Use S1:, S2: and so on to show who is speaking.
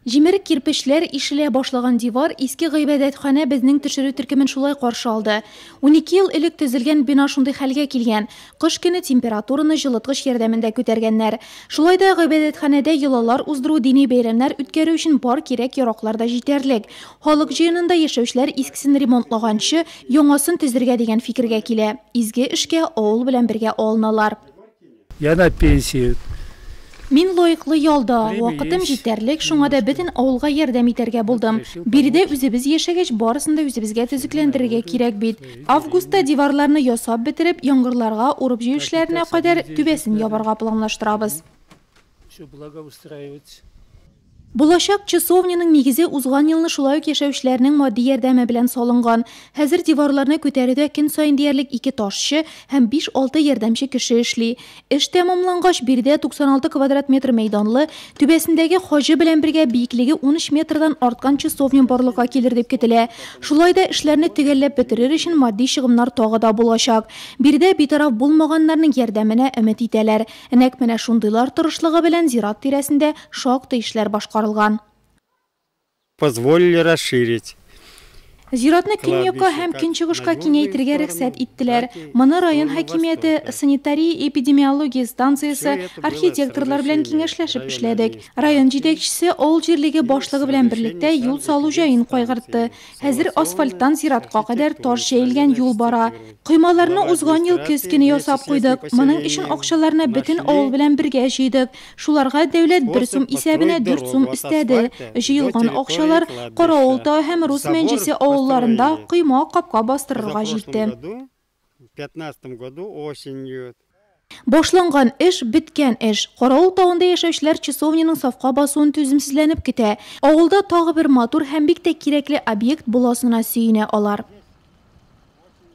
S1: Җимерек кирпечләр, ишелә башлаган дивар, иске гыйбадәтханә безнең төшерү төркемен шулай каршы алды. Унике ел элек төзелгән бина шундый хәлгә килгән, кыш көне температураны җылыткыч ярдәмендә күтәргәннәр. Шулай да гыйбадәтханәдә йолалар уздыру, дини бәйрәмнәр үткәрү өчен бар кирәк-яраклар да җитәрлек. Халык җыенында яшәүчеләр искесен ремонтлаганчы, яңасын төзергә дигән фикергә килә. Изге эшкә авыл белән бергә алыналар. Я на
S2: пенсии. Мин
S1: лаеклы ялда, вакытым җитәрлек, шуңа да бөтен авылга ярдәм итәргә булдым. Биредә үзебез яшәгәч, барысын да үзебезгә төзекләндерергә кирәк бит. Августта диварларны ясап бетереп, яңгырларга, урып-җыю эшләренә кадәр, түбәсен ябарга планлаштырабыз. Булачак часовняның нигезе узган елны шулай ук яшәүчеләрнең матди ярдәме белән салынган. Хәзер диварларны күтәрүдә көн саен диярлек ике ташчы һәм биш-алты ярдәмче кеше эшли. Эш тәмамлангач, биредә 96 квадрат метр мәйданлы, түбәсендәге хаҗы белән бергә биеклеге унөч метрдан арткан часовня барлыкка килер дип көтелә. Шулай да эшләрне төгәлләп бетерер өчен матди чыгымнар тагы да булачак. Биредә битараф булмаганнарның ярдәменә өмет итәләр. Нәкъ менә шундыйлар тырышлыгы белән зират тирәсендә Шактый эшләр башкарылган.
S3: Позволили расширить.
S1: Зиратны көньякка һәм көнчыгышка киңәйтергә рөхсәт иттеләр. Моны район хакимияте, санитария-эпидемиология станциясе, архитекторлар белән киңәшләшеп эшләдек. Район җитәкчесе авыл җирлеге башлыгы белән берлектә юл салу җаен кайгыртты. Хәзер асфальттан зиратка кадәр таш җәелгән юл бара. Коймаларны узган ел көз көне ясап куйдык. Моның өчен акчаларны бөтен авыл белән бергә җыйдык. Шуларга дәүләт бер сум исәбенә дүрт сум өстәде. Җыелган акчалар Каравыл тау һәм Рус Мәнҗесе авылларында койма капка бастырырга җитте.
S3: Башланган
S1: эш, беткән эш. Каравыл тавында яшәүчеләр часовняның сафка басуын түземсезләнеп көтә. Авылда тагы бер матур һәм бик тә кирәкле объект буласына сөенә алар.